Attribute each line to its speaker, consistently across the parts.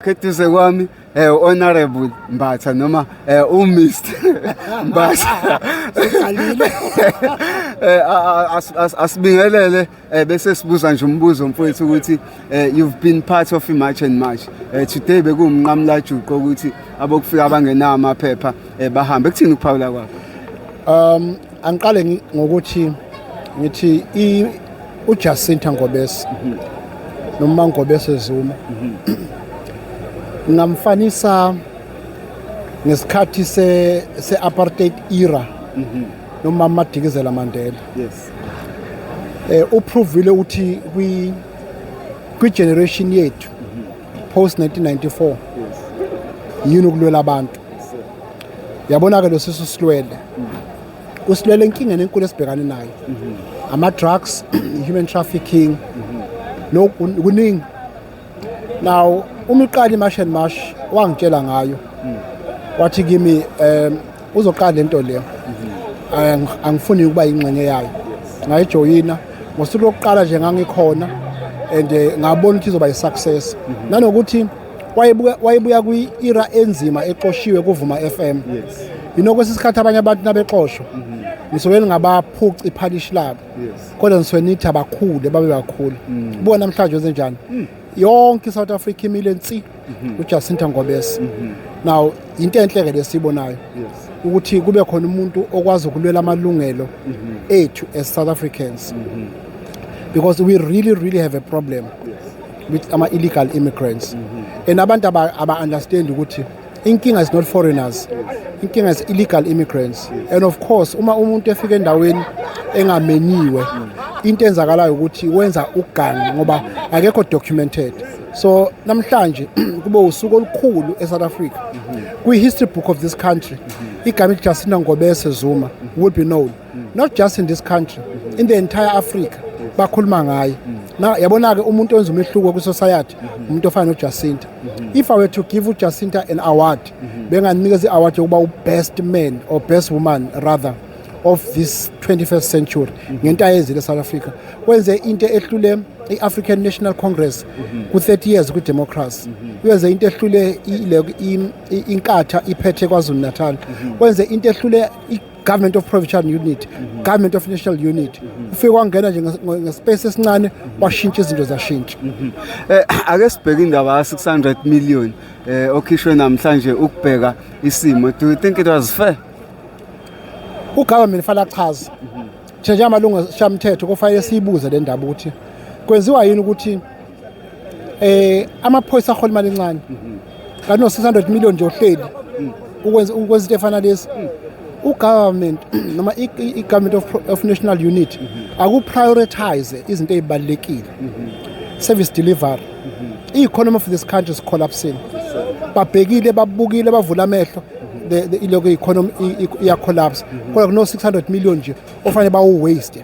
Speaker 1: Eduze kwami eh honorable Mbatha noma eh u Mr Mbatha siqalile
Speaker 2: eh
Speaker 1: asibingelele eh, bese sibuza nje umbuzo mfowethu ukuthi eh, you've been part of March and March eh, today bekumnqamla juqo ukuthi abokufika abangenawo amaphepha bahambe kuthini ukuphawula kwakho um angiqale
Speaker 2: ngokuthi ngithi uJacinta Ngobese mhm. noma Ngobese Zuma mhm. ngamfanisa ngesikhathi se se apartheid era mhm. noma amadikizela Mandela
Speaker 1: yes eh
Speaker 2: uprovile ukuthi kwi kwi generation yethu post 1994 yini ukulwela abantu yabona ke lo sisu silwele mm. usilwela enkingeni enkulu esibhekane nayo mhm. ama-drugs human trafficking mhm. lokhu kuningi now uma iqala imash and mash wangitshela ngayo mhm. wathi kimi um uzoqala le nto leyo angifuni ukuba yingxenye yayo ngayijoyina ngosuku lokuqala nje ngangikhona and eh, ngabona ukuthi izoba yi-success nanokuthi wayebuya wayebuya kwi-era enzima exoshiwe kuvuma FM yes yinokwesinye
Speaker 1: isikhathi abanye
Speaker 2: abantu nabexoshwa mhm. ngisuke ningabaphuci iphalishi labo kodwa ngisuke nithi abakhule babe bakhulu mm. buka namhlanje wenzenjani mm. yonke i-south africa imile nsi mhm. ujacinta ngobese mhm. now yinto enhle-ke lesiyibonayo ukuthi kube khona umuntu okwazi ukulwela amalungelo ethu as south africans because we really really have a problem yes. with ama illegal immigrants mm -hmm. and abantu aba, aba understand ukuthi inkinga is not foreigners inkinga is illegal immigrants and of course uma umuntu efika endaweni engamenyiwe into enzakalayo ukuthi wenza ugangi ngoba akekho documented so namhlanje kube usuku olukhulu eSouth Africa kwi history book of this country igama elithi Jacinta Ngobese Zuma will be known not just in this country in the entire africa bakhuluma ngaye na yabona-ke umuntu owenza umehluko kwisociety umuntu ofana nojacinta if i were to give ujacinta an award benganikeza i-award yokuba u-best man or best woman rather of this 21st century ngento ayenzile south africa wenze into ehlule i-african national congress ku-30 years kwi-democracy wenze into ehlule inkatha iphethe kwazulu natal wenze into ehlule government of provincial unit government of national unit ufike wangena nje ngespace esincane washintsha izinto zashintsha eh ake
Speaker 1: sibheke indaba ya 600 million eh okhishwe namhlanje ukubheka isimo do you think it was fair u government
Speaker 2: fala chaza nje njengamalungu shamthetho kufanele siyibuze le ndaba ukuthi kwenziwa yini ukuthi eh amaphoyisa ahola imali encane kanti no 600 million nje ohleli ukwenza ukwenza into efana lesi ugovernment noma i-government of, of national unit akuprioritize izinto ezibalekile service delivery i-economy of this country is collapsing babhekile babukile bavula amehlo ilokhu i-economy iyacollapse kodwa kuno-600 million nje ofanele bawu-waste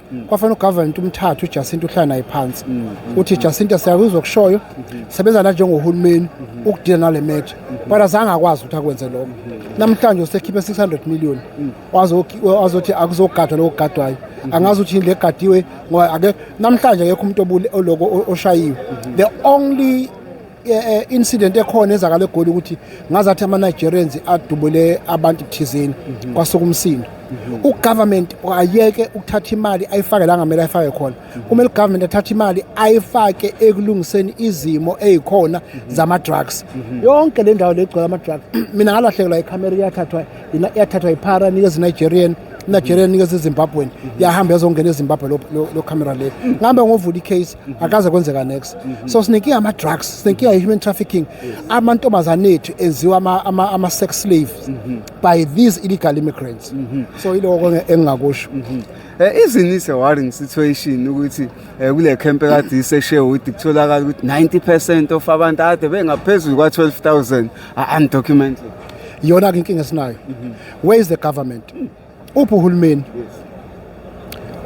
Speaker 2: mm. kwafanele ugovernment umthathe uJacinta uhlala naye phansi mm, mm, uthi Jacinta siyakuzwa okushoyo mm-hmm. sebenza la njengohulumeni mm-hmm. ukudila nale matter mm-hmm. but azange akwazi ukuthi akwenze lokho namhlanje usekhiphe 600 million wazothi akuzogadwa lokho kugadwayo angazi ukuthi le gadiwe ngoba ake namhlanje akekho umuntu oloko oshayiwe the only Eh, incident ekhona ezakale egoli ukuthi ngazathi ama-nigerians adubule abantu thizeni mhm. kwasuka umsindo mhm. ugovernment ayeke ukuthatha imali ayifake la ngamele ayifake khona mhm. kumele ugovernment athathe imali ayifake ekulungiseni izimo eyikhona zama-drugs yonke le ndawo legcwele ama-drugs mina ngalahlekelwa ikhamera iyathathwa iyathathwa yiphara nikeza i-nigerian nigerian nikeza izimbabwen yahamba yazongena ezimbabwe lo camera le ngihambe ngovula i-case akaze kwenzeka next so sinenkinga ama drugs sinenkinga i human trafficking amantombazane ethu enziwa ama, ama, ama sex slaves by these illegal immigrants so iloko nge- engingakusho Eh, isn't
Speaker 1: it a worrying situation ukuthi eh, kule camp ekade iseSherwood kutholakala ukuthi 90% of abantu ade bengaphezulu kwa 12000 are undocumented yona
Speaker 2: ke inkinga esinayo where is the government uphi uhulumeni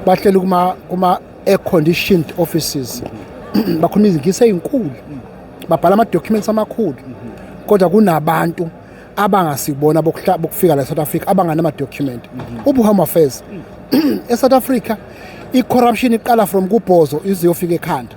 Speaker 2: bahlela kuma kuma air conditioned offices bakhuluma izingisi ezinkulu babhala ama documents amakhulu kodwa kunabantu abangasibona bokufika la South Africa abanganama document ubu home affairs e South Africa i corruption iqala from kubhozo ize yofika ekhanda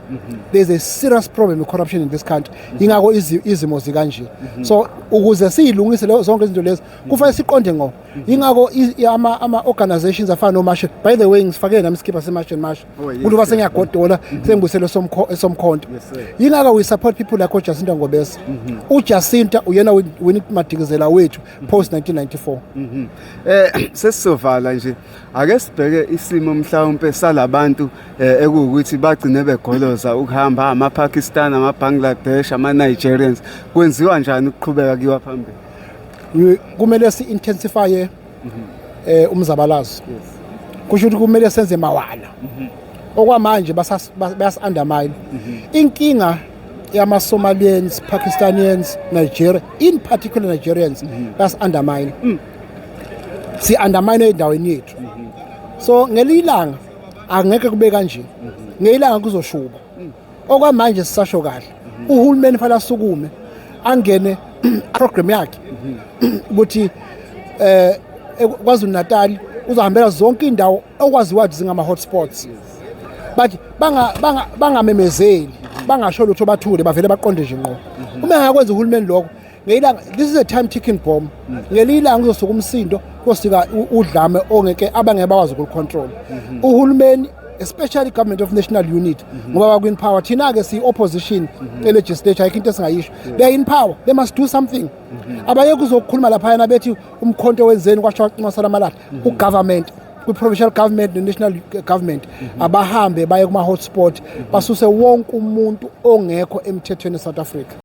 Speaker 2: there is a serious problem with corruption in this country ingakho izimo zikanje so ukuze siyilungise zonke izinto lezi kufanele siqonde ngo yingakho ama ama organizations afana no Marshall by the way ngisifake nami skipper se Marshall Marshall oh, umuntu base ngiyagodola mm-hmm. sengibuselo somkho esomkhonto yingakho we support people like uJacinta Ngobese mm-hmm. uJacinta uyena wini madikizela wethu mm-hmm. post 1994 eh sesizovala
Speaker 1: nje ake sibheke isimo mhlawumbe salabantu eh, ekuwukuthi bagcine begoloza ukuhamba ama Pakistan ama Bangladesh ama Nigerians kwenziwa njani ukuqhubeka kiwa phambili kumele
Speaker 2: si-intensifye um umzabalazo kusho ukuthi kumele senze mawala mhm. okwamanje bayasi-undermine mhm. inkinga yamasomalians pakistanians nigeria in particular nigerians mhm. bayasi-undermine mm. si-undermine endaweni yethu so ngelinye ilanga angeke kube kanje ngelinye ilanga kuzoshuba mm. okwamanje sisasho kahle uhulumeni fanele asukume angene program yakhe ukuthi eh kwaZulu Natal uzahambela zonke indawo okwaziwa ukuthi zingama hotspots but banga bangamemezeli bangasho lutho bathule bavele baqonde nje ngqo uma engakwenza uhulumeni lokho ngeyilanga this is a time ticking bomb ngelinye ilanga uzosuka umsindo kosika udlame ongeke abangeke bakwazi ukulicontrol mhm. uhulumeni especially government of national unit mhm. ngoba bakwin power thina-ke siyi-opposition mhm. elegislature ayikho into esingayisho they in power they must do something abayeke uzokukhuluma laphayana bethi umkhonto wenzeni kwasho waqinwasala amalahla ugovernment kwi-provincial government ne-national government abahambe baye kuma-hotspot basuse wonke umuntu ongekho emthethweni e-south africa